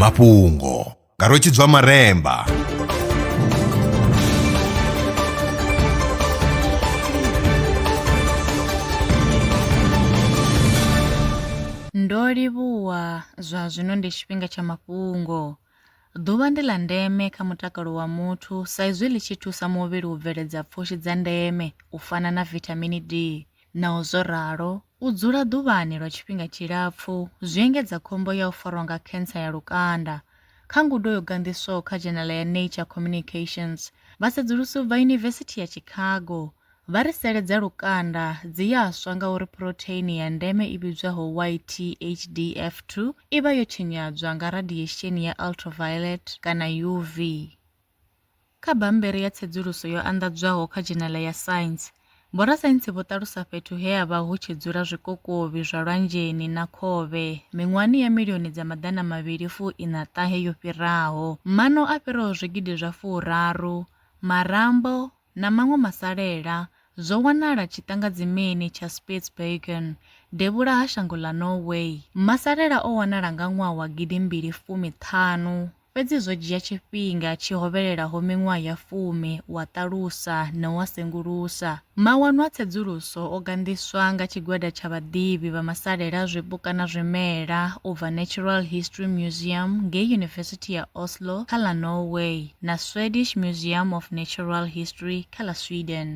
mafhungo nga rwetshidzwa maremba Ndo livhuwa zwa zwino ndi tshifhinga tsha mafhungo. Ḓuvha ndi ḽa ndeme kha mutakalo wa muthu sa izwi ḽi tshi thusa muvhili u bveledza pfushi dza ndeme u fana na vithamini D. Naho zwo ralo, U dzula ḓuvhani lwa tshifhinga tshilapfu zwi engedza khombo ya u farwa nga khensa ya lukanda. Kha ngudo yo ganḓiswaho kha dzhenala ya Nature Communications, vhasedzulusi u bva Yunivesithi ya Chicago vha ri sele dza lukanda dzi ya swa ngauri phurotheini ya ndeme i vhidzwaho YTHDF2 i vha yo tshinyadzwa nga radiesheni ya ultraviolet kana UV. Kha bammbere ya tsedzuluso yo anḓadzwaho kha dzhenele ya Science, vhorasaintsi vho ṱalusa fhethu he ha vha hu tshi dzula zwikokovhi zwa lwanzheni na khovhe miṅwahani ya milioni dza maḓana mavhili fu ina ṱahe yo fhiraho, maṋo a fhiraho zwigidi zwa furaru, marambo, na maṅwe masalela zwo wanala tshiṱangadzimini tsha Spitsbergen, devhula ha shango ḽa Norway. Masalela o wanala nga ṅwaha wa gidi mbili fumi ṱhanu Fhedzi zwo dzhia tshifhinga tshi hovhelelaho miṅwaha ya fumi u a ṱalusa na u a sengulusa. Mawanwa a tsedzuluso o ganḓiswa nga tshigwada tsha vhaḓivhi vha masalela a zwipuka na zwimela u bva Natural History Museum ngei Yunivesithi ya Oslo kha ḽa Norway na Swedish Museum of Natural History kha ḽa Sweden.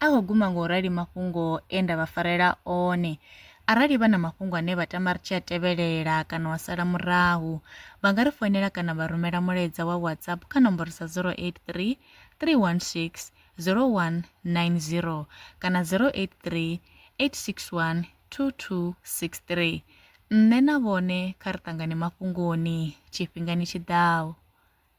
A ho guma nga u rali mafhungo e nda vha farela one. Arali vha na mafhungo ane vha tama ri tshi a tevhelela kana wa sala murahu, vha nga ri foinela kana vha rumela mulaedza wa WhatsApp kha nomboro sa 083 316 0190 kana 083 861 2263. Nṋe na vhone kha ri ṱangane mafhungoni tshifhingani tshi ḓaho.